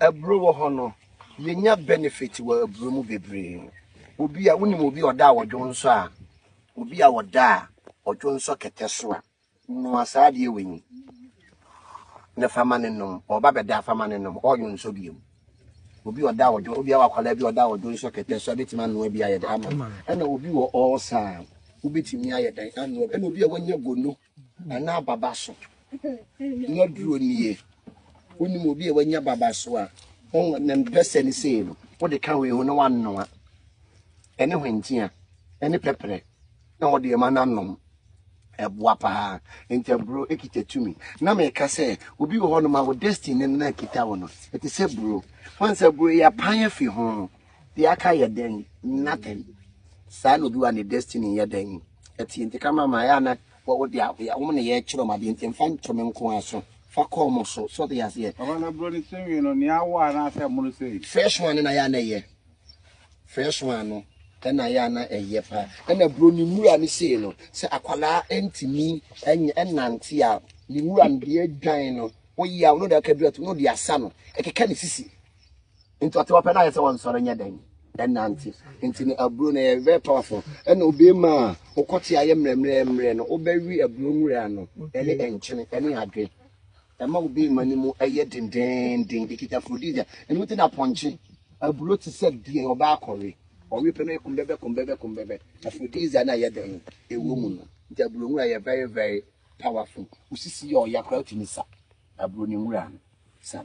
Aburo wɔ hɔ no yɛnya benefit wɔ aburo mu bebree. Obi a wonim obi a ɔda a ɔdwo nsɔ a, obi a ɔda a ɔdwo nsɔ kɛtɛ so a, noa saa adeɛ wei na fa ma no nom. Ɔba bɛda fa ma no nom, ɔdwo nsɔ biom. Obi a ɔda a ɔdwo, obi a wakwadaa bi a ɔda a ɔdwo nsɔ kɛtɛ so a, bɛtumi anoa bi ayɛ dɛ ama no. Ɛna obi wɔ ɔɔsa a, wobɛtumi ayɛ dɛn anoa bi. Ɛna obi a wanya gono anaa ababaso no aduro nie wonim obi a wanya ababaso a ne mpɛsɛ ne sei no wode ka wei ho na wanoa ɛne hwentia ɛne pɛprɛ na wɔde ɛma no anom ɛboa paa nti aburo ekita tumi na meka sɛ obi wɔ hɔ nom a wo destiny no na ekita wɔ no ɛte sɛ buro wɔn sɛ buro yɛ apan afi ho deɛ aka yɛ dɛn nothing saa na obi wɔ ne destiny yɛ dɛn Ɛte nti ka ma ma ɛyɛ a na wɔ wode a yɛ wɔn na yɛrekyerɛ wɔn adeɛ nti mfa nto me nko ara so fa kɔ wɔn so so ɔte aseɛ. Papa na bro ne sewing no nea awɔ anaasɛ mono sei. Fresh one na ya na ɛyɛ fresh one no ɛna ya na ɛyɛ paa ɛna bro ne nwura ne sei no sɛ akwadaa ɛntumi ɛnyɛ ɛnante a ne nwura no deɛ adwan no woyɛ a wɔn de akadura to wɔn de asa no ɛkeka ne sisi. nti ɔte ɔpɛ no ayɛ sɛ wɔnsɔre nyɛ dɛn ɛnante nti no aburo no yɛ very powerful ɛna obie ma a wokɔte ayɛ mmerɛmmerɛmmerɛ no wobɛwe aburo nwura no ɛne ɛnkyene ɛne adwe ɛma obie ma no mu ɛyɛ dendenden ɛkita frodija ɛno mu te na pɔnkye aburo te sɛ deɛ ɔbaa kɔwe ɔwe pɛ no ɛkum bɛbɛ kum bɛbɛ kum bɛbɛ afrodija no ayɛ dɛn ɛwɔ mu no nti aburo nwura yɛ very very powerful wosisi yɛ ɔya koraa wotumi sa aburo no nwura no sa